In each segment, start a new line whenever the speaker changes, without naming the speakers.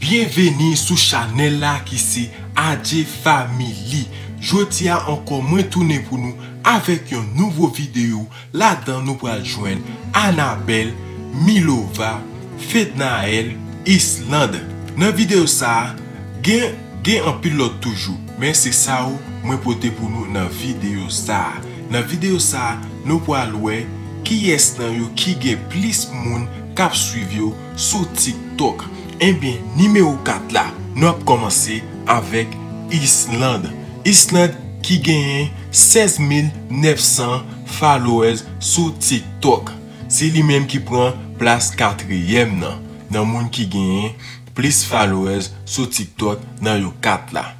Byenveni sou chanèl la ki se Adjee Family Jodi a ankò mwen tounen pou nou avèk yon nouvo videyo ladan nou pral jwenn Anabelle, Milova, Fednaelle, Islande Nan videyo sa gen gen anpil lòt toujou men se sa yo mwen pote pou nou nan videyo sa Nan videyo sa nou pral wè kiyès nan yo ki gen plis moun kap swiv yo sou tiktok enbyen nimewo 4 la nou ap kòmanse avèk Island Island ki genyen 16 mil 900 followers sou tiktok se li menm ki pran plas katriyèm nan nan moun ki genyen plis followers sou tiktok nan yo 4 la.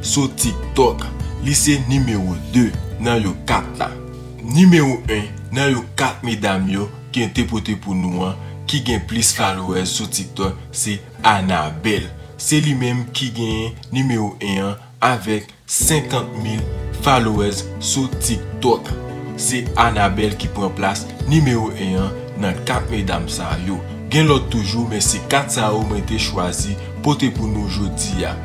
Sou TikTok, li se nimewo 2 nan yo 4 la. Nimewo 1 nan yo 4 medam yo ke n te pote pou nou an ki gen plis followers sou TikTok se Anabel. Se li menm ki genyen nimewo 1 an avèk 50 mil followers sou TikTok. Se Anabel ki pran plas nimewo 1 an nan 4 medam sa yo. Gen lòt toujou men se 4 sa yo mwen te chwazi pote pou nou jodi a.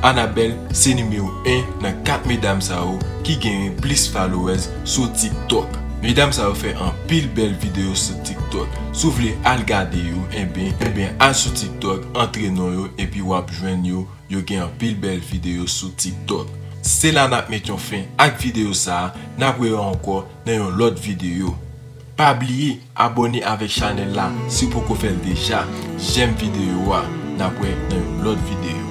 Anabelle se nimewo 1 nan 4 medam sa yo ki genyen plis followers sou tiktok. Medam sa yo fè anpil bèl video sou tiktok si w vle al gade yo enben enben al sou tiktok antre non yo epi wap jwenn yo yo gen anpil bèl video sou tiktok. Se la nap met yon fen ak video sa nap wè yo ankò nan yon lòt video pa bliye abòne avèk chanèl la si w poko fèl deja jèm video a nap wè nan yon lòt video.